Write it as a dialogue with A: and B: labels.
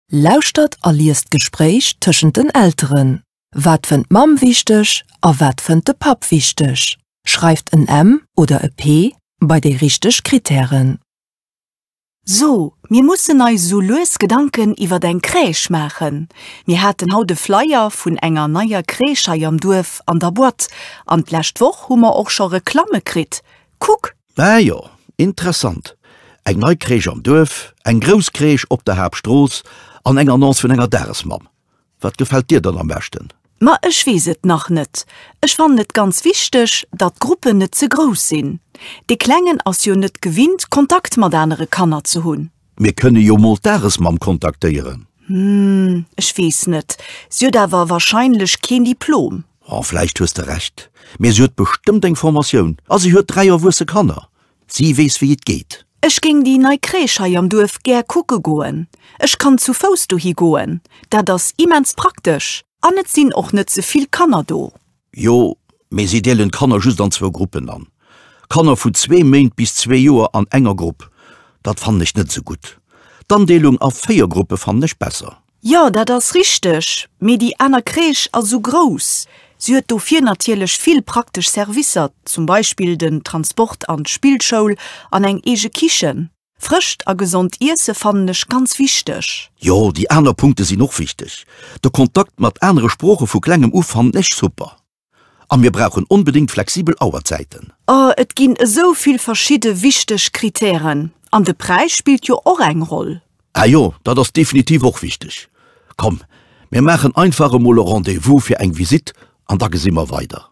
A: Lauschtert a liest d'Gespréich tëschent den Elteren. Wat fënnt d'Mamm wichteg a wat fënnt de Papp wichteg? Schreift en M oder e P bei déi richteg Krittären.
B: So, mir mussen eis esou lues Gedanken iwwert eng Crèche maachen. Mir haten haut e Flyer vun enger neier Crèche hei am Duerf an der Boîte an d'lescht Woch hu mer och scho Reklamme kritt. Kuck! Mä jo,
C: interessant, eng nei Crèche am Duerf, eng grouss Crèche op der Haaptstrooss an eng Annonce vun enger Dagesmamm. Wat gefält dir dann am beschten? Ma ech weess et
B: nach net. Ech fannen et ganz wichteg, datt d'Gruppen net ze grouss sinn. Dee Klengen ass jo net gewinnt, Kontakt mat anere Kanner ze hunn. Mir kënne jo mol
C: d'Dagesmamm kontaktéieren. Hm, ech
B: weess net. Si huet awer wahrscheinlech keen Diplom. Oh, vläicht hues de
C: Recht. Mee si huet bestëmmt eng Formatioun. A si huet dräi erwuesse Kanner. Si weess, wéi et geet. Ech géing déi nei
B: Crèche hei am Duerf gär kucke goen. Ech kann zu Fouss dohi goen. Dat ass immens praktesch. An et sinn och net ze vill Kanner do. Jo,
C: mee si deelen d'Kanner just an zwou Gruppen an. Kanner vu zwee Méint bis zwee Joer an enger Grupp, dat fannen ech net esou gutt. D'Andeelung a véier Gruppe fannen ech besser. Jo, dat ass
B: richteg, mee déi aner Crèche ass esou grouss. Si huet dofir natierlech vill praktesch Servicer, zum Beispill den Transport an d'Spillschoul an eng eege Kichen. Frëscht a gesond Iesse fannen ech ganz wichteg. Jo, déi aner
C: Punkte sinn och wichteg. De Kontakt mat anere Sprooche vu klengem u fannen ech super. A mir brauchen onbedéngt flexibel Auerzäiten. Oh, et ginn
B: esou vill verschidde wichteg Kritären. An de Präis spillt jo och eng Roll. Ah jo, dat ass
C: definitiv och wichteg. Komm, mir maachen einfach emol e Rendez-vous fir eng Visitt an da gesi mer weider.